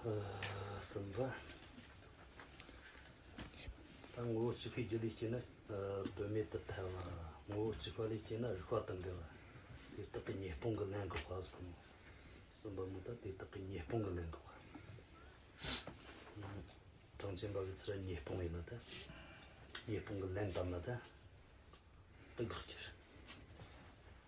གསུམ་པ། ད་ངོ་བོ་གཅིག་པའི་རྒྱུ་ལས་སྐྱེས་ན་དོན་མེད་དུ་ཐལ་བ། ངོ་བོ་གཅིག་པ་ལས་སྐྱེས་ན་རིགས་པ་དང་འགལ་བ། དེ་དག་གི་ཉེས་སྤོང་གི་ལན་དགག་པ་གསུམ་མོ། གསུམ་པ་མུ་ད་དེ་དག་གི་ཉེས་སྤོང་གི་ལན་དགག་པ། གྲངས་ཅན་འབའ་ཀྱི་ཚུལ་ཉེས་སྤོང་ཡིན་ན་ད་ཉེས་སྤོང་གི་ལན་བཏབ་ན་ད་དགག་གྱུར།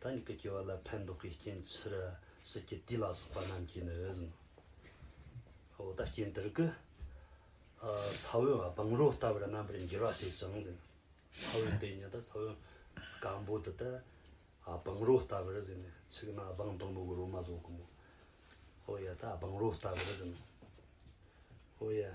ད་ནི་ཀུན་སྐྱེ་བ་ལ་ཕན་འདོགས་པའི་རྐྱེན་ཕྱིར་སྲིད་ཀྱི་དུས་ལ་སོགས་པ་རྣམས་ཀྱིས་ནི་འོད་ཟིན་འོད་དང་རྐྱེན་དེར་ཀུན། ས་བོན་སྦང་རོ་ལྟ་བུར་རྣམ་པར་འགྱུར་བ་ཞེས་བྱང་ཟིན་ས་བོན་དེ་ཉིད་ས་བོན་སྐམ་པོ་དེ་དག་སྦང་རོ་ལྟ་བུར་ཟིན་ནས་ཕྱུགས་ན་སྦང་དང་པོ་གི་རོ་མ་བཟོ་གི་མོ་འོ་ཡ་དག་སྦང་རོ་ལྟ་བུར་ཟིན་ནོ་འོ་ཡ།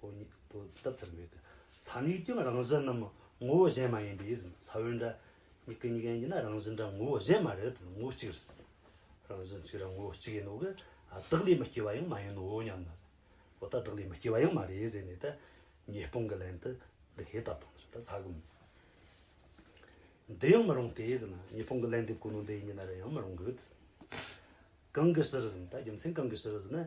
ཧོ་ཉིད་དུ་དབབ་ཐབས་མེད། ས་ནུས་ཀྱང་རང་བཞིན་ནམ་ངོ་བོ་གཞན་མ་ཡིན་པས་ཟིན། ས་བོན་འདྲ། མྱི་ཀི་མྱི་གན་གྱི་ན་རང་བཞིན་འདྲ་ངོ་བོ་གཞན་མ་རེད་ངོ་བོ་གཅིག་རེད་ཟིན། རང་བཞིན་གཅིག་རང་ངོ་བོ་གཅིག་ཡིན་ནོ་གི། བདག་ལས་མི་སྐྱེ་བ་ཡང་མ་ཡིན་ནོ་སྙམ་ན། འོ་ད་བདག་ལས་མི་སྐྱེ་བ་ཡང་མ་རེད་ཟེར་ནས་ད། ཉེས་སྤོང་གི་ལན་དུ་འདི་ཧེ་ད་དང་ཟེར་ད་ས་གོ། འདི་ཡང་མི་རུང་སྟེ་ཟིན། ཉེས་སྤོང་གི་ལན་འདེབས་གོ་ནོ་འདི་ཡིན་གྱི་ན་རེ་ཡང་མི་རུང་གི། གང་གི་ཕྱིར་ཟིན་ད་རྒྱུ་མཚན་གང་གི་ཕྱིར་ཟིན་ན།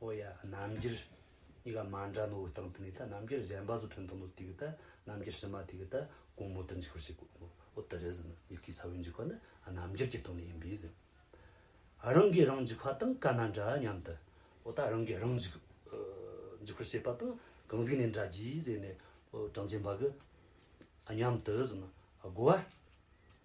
ཨོ་ཡ། རྣམ་འགྱུར། གཉིས་ཀ་མ་འདྲ་ནོ་འི་སྟེང་དུ་ནི་ད་རྣམ་འགྱུར་གཞན་པ་སུ་ཐོན་ཐུབ་མོད་དུས་ཀྱི་ད་རྣམ་འགྱུར་ཕྱི་མ་དུས་ཀྱི་ད་གོང་མོ་དུ་འཇིག་པར་བྱེད་དགོས་ངོ། ཨོ་ད་རེ་ཟིན། ཡི་གེའི་ས་བོན་འཇིག་པ་ནི་རྣམ་འགྱུར་གྱི་སྟེང་ནས་ཡིན་པས་ཟིན། རང་གིས་རང་འཇིག་པ་དང་ག་ན་འདྲ་སྙམ་དུ། ཨོ་ད་རང་གིས་རང་འཇིག། འཇིག་པར་བྱེད་པ་དང་གང་ཟིག་ནས་འདྲ་གྱིས་ཟེར་ནས། ཨོ་གྲངས་ཅན་པ་གི། སྙམ་དུ་ཟིན། དགོས་པ།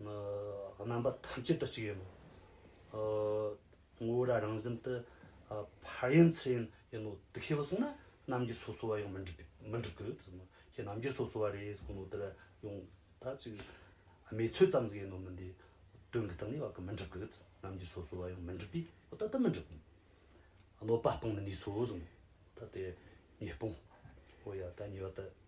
རྣམ་པ་ཐམས་ཅད་དུ་གཅིག་ཡིན་ནོ། ངོ་བོ་ར་རང་བཞིན་དུ་ཕར་ཡིན་ཚུར་ཡིན་ཡིན་ནོ། དུ་ཤེས་པར་བསྲུངས་ན་རྣམ་འགྱུར་སོ་སོ་བ་ཡང་མི་འགྲིག་མི་འགྲིག་གི། ཁྱེད་རྣམ་འགྱུར་སོ་སོ་བ་རེད་གསུངས་ནོ་དེ་ལ་ཡང་ད་ཅིག་མེད་ཚུལ་ཙམ་ཟིག་ཡིན་ནོ་མི་འདི་དོན་གྱི་སྟེང་ནས་བ་ཀི་མི་འགྲིག་གི། རྣམ་འགྱུར་སོ་སོ་བ་ཡང་མི་འགྲིག་པས་ད་ལྟ་མི་འགྲིག། གནོད་པ་སྤོང་ནི་ནུས་སོ་གསུངས། ད་དེ་ཉེས་སྤོང། ཨོ་ཡ་ད་ཉེས་པ་དེ།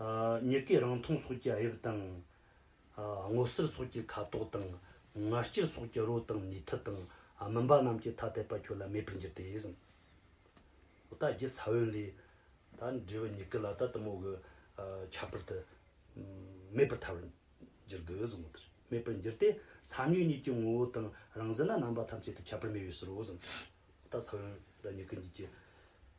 མྱུ་གུའི་རང་མཐོང་སོགས་ཀྱི་དབྱིབས་དང། སྔོ་སེར་སོགས་ཀྱི་ཁ་དོག་དང། ངར་སྐྱེར་སོགས་ཀྱི་རོ་དང་ནུས་མཐུ་དང། མུན་པ་རྣམས་ཀྱི་ཐ་དད་པ་ཁྱོད་ལ་མེད་པར་འགྱུར་ཏེ། ད་རྒྱུད་ས་བོན་ལས། ད་འབྲས་བུ་མྱུ་གུ་ལ་ད་དུ་མོ་གི་ཁྱད་པར་དུ། མེད་པར་ཐལ་བར་འགྱུར་དགོས། མེད་པར་འགྱུར་ཏེ། ས་མྱུག་གཉིས་ཀྱི་ངོ་བོ་དང་རང་བཞིན་ལ་རྣམ་པ་ཐམས་ཅད་དུ་ཁྱད་པར་མེད་པའི་ཕྱིར་རོ། ད་ས་བོན་ལ་མྱུ་གུ་གཉིས་ཀྱི།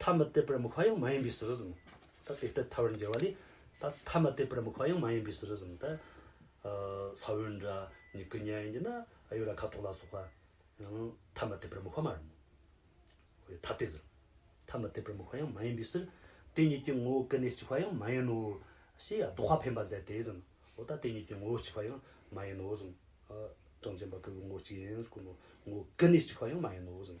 ཐ་མི་དད་པར་མི་ཁ་ཡང་མ་ཡིན་པའི་ཟིལ་གཟིགས་ནི། ད་དེ་ལྟར་ཐར་བར་འགྱུར་བ་ལས། ད་ཐ་མི་དད་པར་མི་ཁ་ཡང་མ་ཡིན་པའི་ཟིལ་གཟིགས་ནི། ད་ས་བོན་འདྲ་ནི་ཀུན་ཉར་ཡིན་གྱི་ན་ཨ་ཡོད་ར་ཁ་དོག་ལ་སོགས་པ། ཡང་ཐ་མི་དད་པར་མི་ཁ་མ་རུང། ཧོས་ཐ་དད་ཟིལ། ཐ་མི་དད་པར་མི་ཁ་ཡང་མ་ཡིན་པའི་ཟིལ། དེ་གཉིས་ཀྱི་ངོ་བོ་ཀུན་ནས་གཅིག་པ་ཡང་མ་ཡིན་ནོ། ཞེས་ཡང་ཟློག་པ་འཕེན་པར་མཛད་དེ་ཟིན་ནོ། འོ་ད་དེ་གཉིས་ཀྱི་ངོ་བོ་གཅིག་པ་ཡང་མ་ཡིན་ནོ་ཟིན། གྲངས་ཅན་པ་ཀུན་གྱི་ངོ་བོ་གཅིག་ཡིན་ཟེར་ཀུན་ནོ། ངོ་བོ་ཀུན་ནས་གཅིག་པ་ཡང་མ་ཡིན་ནོ་ཟིན།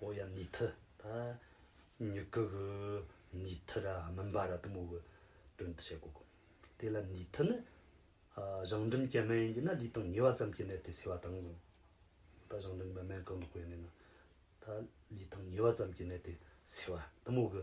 ཨོ་ཡ་ནི་ཐི་ད་ཉི་ཀི་གི་ནི་ཐི་ར་མིན་པ་ར་དུ་མོ་གི་དོན་དུ་བྱེད་དགོས་གོ། དེ་ལ་ནི་ཐི་ནི་གཞང་འབྲུམ་སྐྱེ་སྨན་ཡིན་གྱི་ན་ལུས་དང་ཉེ་བ་ཙམ་གྱི་ནད་དེ་སེལ་བ་དང། གཟང་ད་གཞང་འབྲུམ་སྨན་གང་དུ་བསྐོལ་ནས་ན་ད་ལུས་དང་ཉེ་བ་ཙམ་གྱི་ནད་དེ་སེལ་བ་དུ་མོ་གི་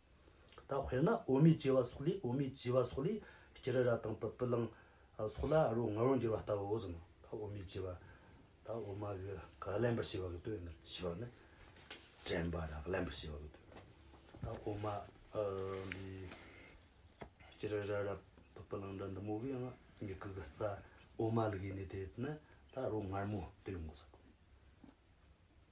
ད་དཔེར་ན་འོ་མའི་སྐྱེ་བ་སོགས་ལས་འོ་མའི་སྐྱེ་བ་སོགས་ལས་སྐྱེ་རི་ར་དང་པི་པི་ལང་སོགས་ལ་རོ་ང་རོ་འགྱུར་བ་ལྟ་བུ་བཞིན་ནོ། འོ་མའི་སྐྱེ་བ་ད་འོ་མ་གི་ག་ལན་པར་བྱེད་པ་གི་དོན་ནི་ཞེས་པ་ནི་དྲན་པ་ར་ག་ལན་པར་བྱེད་པ་གི་དོན་ནོ། ད་འོ་མ་འདི་སྐྱེ་རི་ར་ར་པི་པི་ལང་འདྲ་འདི་མོ་གི་ཡང་མྱི་གུ་གི་རྩ་འོ་མ་ལ་གི་ནི་དེ་ནི་ད་རོ་ངར་མོ་དོན་ངོ་ས་གོ།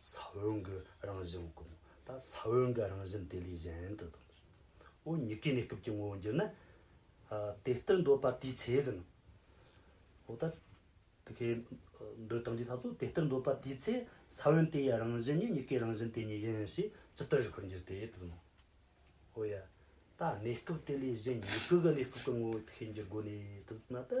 ས་བོན་གྱི་རང་བཞིན་ཀུན། ད་ས་བོན་གྱི་རང་བཞིན་དེ་ལས་གཞན་དུ་དང། འོ་ཉི་ཀའི་གནས་སྐབས་ཀྱི་ངོ་བོ་འགྱུར་ན། དེ་ལྟར་འདོད་པ་དེའི་ཚེ་ཟིན། འོ་ད་དེ་ཁའི་འདོད་དང་འདི་དག་ཚོ་དེ་ལྟར་འདོད་པ་དེའི་ཚེ་ས་བོན་དེ་ཡི་རང་བཞིན་ཉིད་ཉི་ཀའི་རང་བཞིན་དེ་ཉིད་ཡིན་ཞེས་ཇི་ལྟར་རིག་པར་འགྱུར་ཏེ་དེ་ཟིན་ནོ། འོ་ཡ། ད་གནས་སྐབས་དེ་ལས་གཞན་ཉི་ཀ་གི་གནས་སྐབས་ཀྱི་ངོ་བོ་དེ་ཁའི་འགྱུར་སྒོ་ནས་དེ་ཟིན་ན་ཏེ།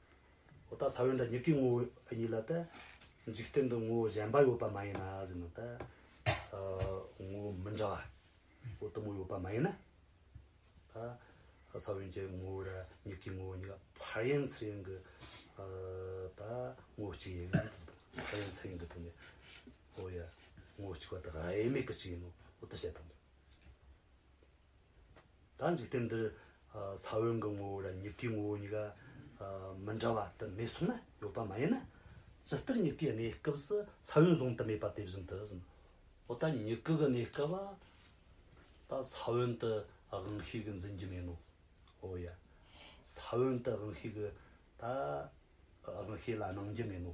འོ་ད་ས་བོན་དང་མྱིག་གི་ངོ་བོ་གཉིས་ལ་ད་འཇིག་རྟེན་དུ་ངོ་བོ་གཞན་པ་ཡོད་པ་མ་ཡིན་ན་ཟེར་ན་ད་ངོ་བོ་མི་འདྲ་བ་པོ་དུ་མ་ཡོད་པ་མ་ཡིན་ན་ད་ས་བོན་གྱི་ངོ་བོ་དང་མྱིག་གི་ངོ་བོ་གཉིས་ཀ་བར་ཡན་ཚུལ་ཡིན་གྱི་ད་ངོ་བོ་གཅིག་ཡིན་གྱི་བར་ཡན་ཚུལ་ཡིན་གྱི་དེ་ནས་ཨོ་ཡ་ངོ་བོ་གཅིག་པ་དེ་དབྱེར་མེད་ཀྱི་གཅིག་ཡིན་ནོ་ཨོ་ད་བཤད་དམ། ད་འཇིག་རྟེན་འདིར་ས་བོན་གྱི་ངོ་བོ་དང་མྱུ་གུའི་ངོ་བོ་གཉིས་ཀ་མི་འདྲ་བ་དུ་མས་གསུངས་ན་ཡོད་པ་མ་ཡིན་ན། ཇི་ལྟར་མྱུ་གུའི་གནས་སྐབས་སུ་ས་བོན་བཟུང་དུ་མེད་པ་དེ་བཞིན་དུ་ཟིན་ནོ། འོ་ད་མྱུ་གུ་གི་གནས་སྐབས་ད་ས་བོན་དུ་དབང་ཤེས་ཀྱི་འཛིན་རྒྱུ་མེད་ནོ། འོ་ཡ། ས་བོན་དུ་དབང་ཤེས་ཀྱི་ད་དབང་ཤེས་ལ་སྣང་རྒྱུ་མེད་ནོ།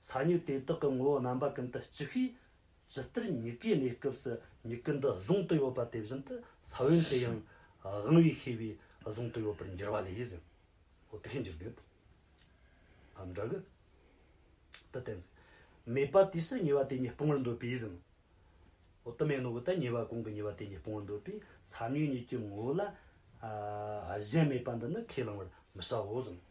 ས་མྱུག་དེ་དག་གི་ངོ་བོ་རྣམ་པ་ཀུན་ཏུ་གཅིག་ཤོས་ཇི་ལྟར་མྱུ་གུའི་གནས་སྐབས་སུ་མྱུ་གུ་འདི་གཟུང་དུ་ཡོད་པ་དེ་བཞིན་དུ་ས་བོན་དེ་ཡང་དབང་བའི་ཤེས་པས་གཟུང་དུ་ཡོད་པར་འགྱུར་བ་ལས། འོ་དེ་ཤེས་འགྱུར་དོན་དུ་འམ་འདྲ་གི། དུ་བསྟན། མེད་པ་དུས་སུ་ཉེ་བ་དེ་ཉིད་སྤོང་བར་འདོད་པས། འོ་དུ་མེད་ནོ་གི་དང་ཉེ་བ་གང་གི་ཉེ་བ་དེ་ཉིད་སྤོང་བར་འདོད་པས་ས་མྱུག་གཉིས་ཀྱི་ངོ་བོ་ལ་གཞན་མེད་པ་འདི་ནི་ཁས་བླང་བར་མི་བྱའོ།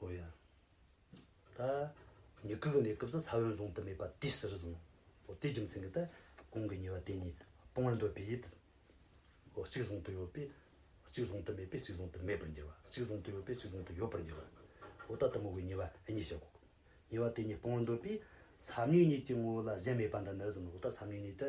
ཨོ་ཡ། ད་ཉི་སྐུགས་ནས་སྐུབས་སུ་ས་བོན་བཟུང་དུ་མེད་པ་དུས་ཟིར་བཟུང། ཨོ་དེའི་རྒྱུ་མཚན་གྱིས་ཏེ་གོང་གི་ཉེ་བ་དེ་གཉིས་སྤོང་བར་འདོད་པས་ཡིད། ཨོ་གཅིག་བཟུང་དུ་ཡོད་པས་གཅིག་བཟུང་དུ་མེད་པས་གཅིག་བཟུང་དུ་མེད་པར་འགྱུར་བ་གཅིག་བཟུང་དུ་ཡོད་པས་གཅིག་བཟུང་དུ་ཡོད་པར་འགྱུར་བ། ཨོ་ད་དུ་མོ་བའི་ཉེ་བ་གཉིས་བྱེད་དགོས། ཉེ་བ་དེ་གཉིས་སྤོང་བར་འདོད་པས་ས་བོན་གཉིས་ཀྱི་ངོ་བོ་ལ་གཞན་མེད་པ་འདི་ནི་ཟིན་ནོ་ཨོ་ད་ས་བོན་གཉིས་ཏེ།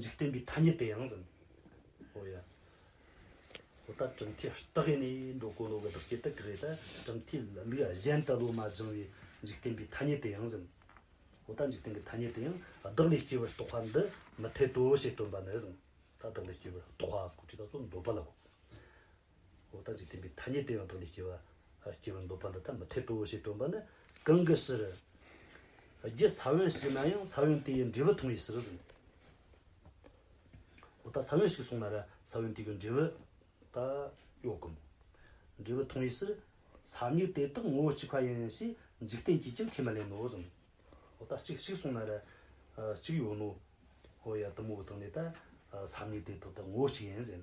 འཇིག་རྟེན་པའི་ཐ་སྙད་དེ་ཡང་ཟིན། ཨོ་ཡ། ཨོ་ད་གྲུབ་མཐའི་རྟགས་ཡེ་ནས་འགྲོ་གོ་འགྲོ་གི་བདག་སྐྱེ་དག་གི་རེད་ད་གྲུབ་མཐའི་ལུགས་གཞན་དུ་བློ་མ་སྦྱང་བའི་འཇིག་རྟེན་པའི་ཐ་སྙད་དེ་ཡང་ཟིན། ཨོ་ད་འཇིག་རྟེན་གྱི་ཐ་སྙད་དེ་ཡང་བདག་ལས་སྐྱེ་བར་རྟོག་པ་འདི་མི་འཐད་དོ་ཞེས་སྟོན་པ་ནི་ཟིན། ད་བདག་ལས་སྐྱེ་བར་རྟོག་པ་གོ་ཁྲིད་ད་གཙོ་འདོད་པ་ལ་གོ། འོག་རྟགས་ཀྱི་བསྟན་པའི་ཐ་སྙད་དེ་ཡང་དག་ལས་སྐྱེ་བ། སྐྱེ་བར་འདོད་པ་འདི་ལྟར་མི་འཐད་དོ་ཞེས་སྟོན་པ་ནི་གང་གི་ཕྱིར། རྒྱུ་ས་བོན་ཞིག་ན་ཡང་ས་བོན་དེའི་འབྲས་བུ་མཐོང་བའི་ཕྱིར། འོ་ད་ས་བོན་ཞིག་སོང་ན་ར་ས་བོན་དེ་གི་འབྲས་བུ་ད་གཡོག་གམ། འབྲས་བུ་མཐོང་བའི་ཕྱིར། ས་ཉིད་དེ་དག་ངོ་བོ་གཅིག་པ་ཡིན་ཞེས་འཇིག་རྟེན་གྱིས་ཀྱང་ཁས་མི་ལེན་ནོ། འོ་ད་གཅིག་གཅིག་སོང་ན་ར་གཅིག་ཡོད་ནོ། འོ་ཡ་དུ་མོ་བོ་དང་ནི་ད་ས་ཉིད་དེ་དག་ད་ངོ་བོ་གཅིག་ཡིན།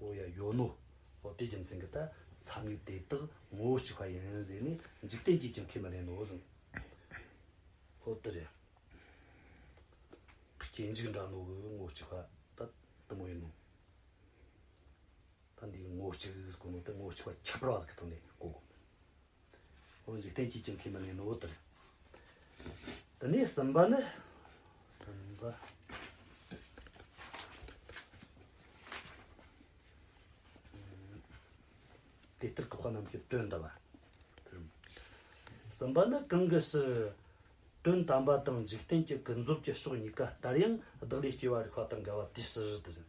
ཨོ་ཡ་ཡོད་ནོ། ཨོ་དེའི་རྒྱུ་མཚན་གྱིས་ད་ས་མིག་དེ་དག་ངོ་བོ་གཅིག་པ་ཡིན་ཟེར་ནས་འཇིག་རྟེན་གྱིས་ཀྱང་ཁས་མི་ལེན་ནོ་གསུངས། ཨོ་དེ་རེད། སྐྱེ་འཇིག་འདྲ་ནོ་གི་ངོ་བོ་གཅིག་པ་ད་དུ་མ་ཡིན་ནོ། ད་འདིའི་ངོ་བོ་གཅིག་གི་གོ་ནོ་དེ་ངོ་བོ་གཅིག་པ་ཁྱད་པར་བ་ཟིག་གི་ཐོག་ནས་གོ་དགོས། འོ་འཇིག་རྟེན་གྱིས་ཀྱང་ཁས་མི་ལེན་ནོ་དང། དེ་ནས་གསུམ་པ་ནི། གསུམ་པ། དེ་ལྟར་གོ་བ་རྣམས་ཀྱི་དོན་དམ་པ། གསུམ་པ་ནི་གང་གི་ཕྱིར། དོན་དམ་པ་དང་འཇིག་རྟེན་གྱི་ཀུན་རྫོབ་ཀྱི་ཕྱོགས་གཉིས་ཀ་ལྟར་ཡང་བདག་ལས་སྐྱེ་བ་རིག་པ་དང་འགལ་བ་དེའི་ཕྱིར་དུ་ཟིན།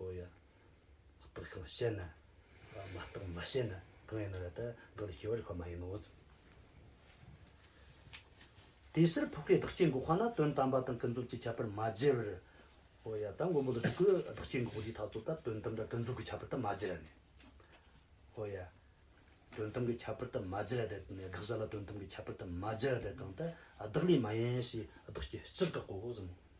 ཨོ་ཡ། རྟོག་གི་བ་ཤད་ན། མ་རྟོག་མ་ཤེས་ན་གང་ཡིན་ན་ར་ད་གང་དུ་སྐྱེ་བ་རིག་པ་མ་ཡིན་ནོ། དེ་ཕྱིར་ཕོག་པའི་བདག་སྐྱེ་འགོག་པ་ན་དོན་དམ་པ་དང་ཀུན་རྫོབ་ཀྱི་ཁྱད་པར་མ་འབྱེད་པར། ཨོ་ཡ། ད་མགོན་པོ་འདི་དྲུག་གི་བདག་སྐྱེ་འགོག་པའི་ཐ་ཚུལ་ལྟར་དོན་དམ་པ་ཀུན་རྫོབ་ཀྱི་ཁྱད་པར་དུ་མ་འབྱེད་ར་ནི། ཨོ་ཡ། དོན་དམ་གྱི་ཁྱད་པར་དུ་མ་འབྱེད་ར་དེ་དང་དགག་བྱ་ལ་དོན་དམ་གྱི་ཁྱད་པར་དུ་མ་འབྱེད་ར་དེ་དང་དེ་བདག་ལས་མ་ཡིན་ཞེས་བདག་སྐྱེ་སྤྱིར་བཀག་གོ་བཟང་མོ།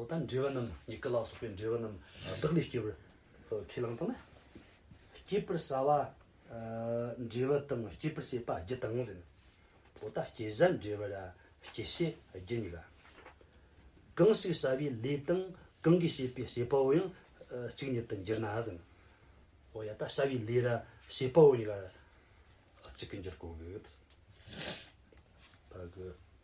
འོ་ད་འདྲེ་བ་རྣམས་ཉི་སྐར་ལ་སོགས་པའི་འདྲེ་བ་རྣམས་བདག་ལས་སྐྱེ་བར་ཁས་བླངས་དང། སྐྱེད་པར་བྱ་བ། འདྲེ་བ་དང་སྐྱེད་པར་བྱེད་པ་བརྒྱུད་དང་ཟིན། འོ་ད་སྐྱེད་བྱ་འདྲེ་བར་སྐྱེད་བྱེད་བརྒྱུད་ནས་ལ། གང་ཞིག་བྱ་བའི་ལས་དང་གང་གིས་བྱེད་པའི་བྱེད་པའོ་ཡང་གཅིག་ཉིད་དུ་འགྱུར་ན་ཟིན། འོ་ཡ་ད་བྱ་བའི་ལས་ར་བྱེད་པའོ་ཉིད་ལ་གཅིག་གིས་འགྱུར་གོ།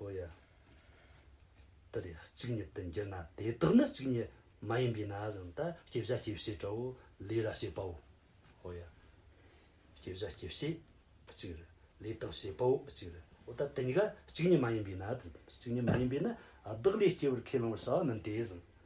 ཨོ་ཡ། དེ་ལས་གཅིག་ཉིད་དུ་འགྱུར་ན་དེ་དག་ནི་གཅིག་ཉིད་མ་ཡིན་པས་ན་གཟིངས་ལྟར་སྐྱེ་བཞག་སྐྱེ་བྱེད་བྲལ་བོ་ལས་ར་བྱེད་པའོ། ཨོ་ཡ། སྐྱེ་བཞག་སྐྱེ་བྱེད་གཅིག་རེད། ལས་དང་བྱེད་པའོ་གཅིག་རེད། འོ་ད་དེ་གཉིས་ཀ་གཅིག་ཉིད་མ་ཡིན་པས་ན་གཅིག་ཉིད་མ་ཡིན་པས་ན་བདག་ལས་སྐྱེ་བར་ཁས་བླང་བར་བྱ་བ་མིན་ཏེ་གཟིངས།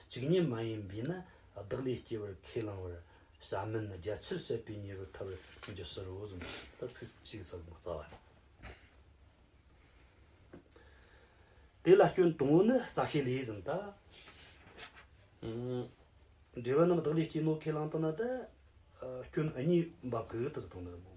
གཅིག་ཉིད་མ་ཡིན་པས་ན་བདག་ལས་སྐྱེ་བར་ཁས་བླང་བར་བྱ་མིན་ནི་རྒྱ་ཆེར་བཤད་པའི་ཉེ་བའི་ཐབས་ཀྱི་ཕྱིར་རོ། གསུམ་དང་དག་ཚིག་གཅིག་ཟབ་མོ་རྩ་བ། དེ་ལ་སྐྱོན་དང་པོ་ནི་རྩ་ཤེས་ལས་གསུམ་དང། འབྲེལ་བ་རྣམས་བདག་ལས་སྐྱེས་ནོ་ཁས་བླངས་དང་ན་དེ་སྐྱོན་གཉིས་འབབ་གི་དེ་ཚོ་དང་ནི།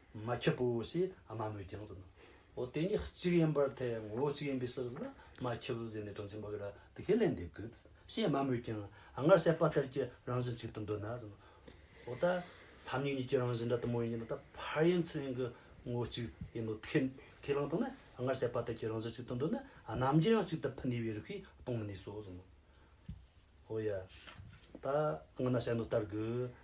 མ་ཁྱི་པོ་ཞེས་དམའ་མོའི་རྒྱང་ཟིན་ནོ། འོ་དེ་གཉིས་གཅིག་ཡིན་པར་ཐལ་ངོ་བོ་གཅིག་ཡིན་པའི་ཕྱིར་ཟེར་ན་མ་ཁྱི་པོ་ཟེར་ནས་དོན་ཆེན་པོ་འགའ་དེ་ཁས་ལེན་འདེབས་དགོས། ཞེས་དམའ་མོའི་རྒྱང་སྔར་བཤད་པ་ལྟར་གྱི་རང་བཞིན་གཅིག་ཏུ་འདོད་ན་ཟིན་ནོ། འོ་ད་སམ་ཡུལ་གཉིས་ཀྱི་རང་བཞིན་འདྲ་དུ་མ་ཡིན་གྱི་འདི་ལྟར་ཕར་ཡིན་ཚུར་ཡིན་གྱི་ངོ་བོ་གཅིག་ཡིན་ནོ། ཁས་བླངས་ཐོག་ན་སྔར་བཤད་པ་ལྟར་གྱི་རང་བཞིན་གཅིག་ཏུ་འདོད་ན་རྣམ་རྒྱལ་ཡང་གཅིག་ཏུ་འཕུལ་ནུས་པའི་རིགས་ཤིག་གཏོང་མི་ནུས་སོ་ཟིན་ནོ། འོ་ཡ། ད་སྔ་ན་བཤད་ནོ་ལྟར་དགོས།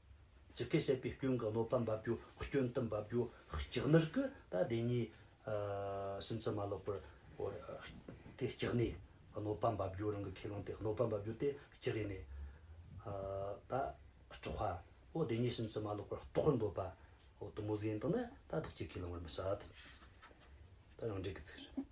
ཇི་སྐད་བཤད་པའི་སྐྱོན་གྱི་གནོད་པ་འབབ་རྒྱུ་སྐྱོན་དུ་འབབ་རྒྱུ་སྐྱག་ནར་གྱི་ད་བདེན་གཉིས་སུན་ཚི་མ་ལོག་པར་འོར། དེ་སྐྱག་ནས་གནོད་པ་འབབ་རྒྱུ་རང་གི་ཁས་བླངས་ཏེ་གནོད་པ་འབབ་རྒྱུ་དེ་སྐྱག་ཡིན་ནས། ད་སྤྲོ་བ་འོ་བདེན་གཉིས་སུན་ཚི་མ་ལོག་པར་རྟོགས་པར་འདོད་པ་འོ་དུ་མོ་ཟེ་ཡིན་དང་ན་ད་བདག་གཅིག་ཁས་བླངས་བར་མི་བྱ། ད་རང་འགྲེལ་གྱི་ཚིག་རེད།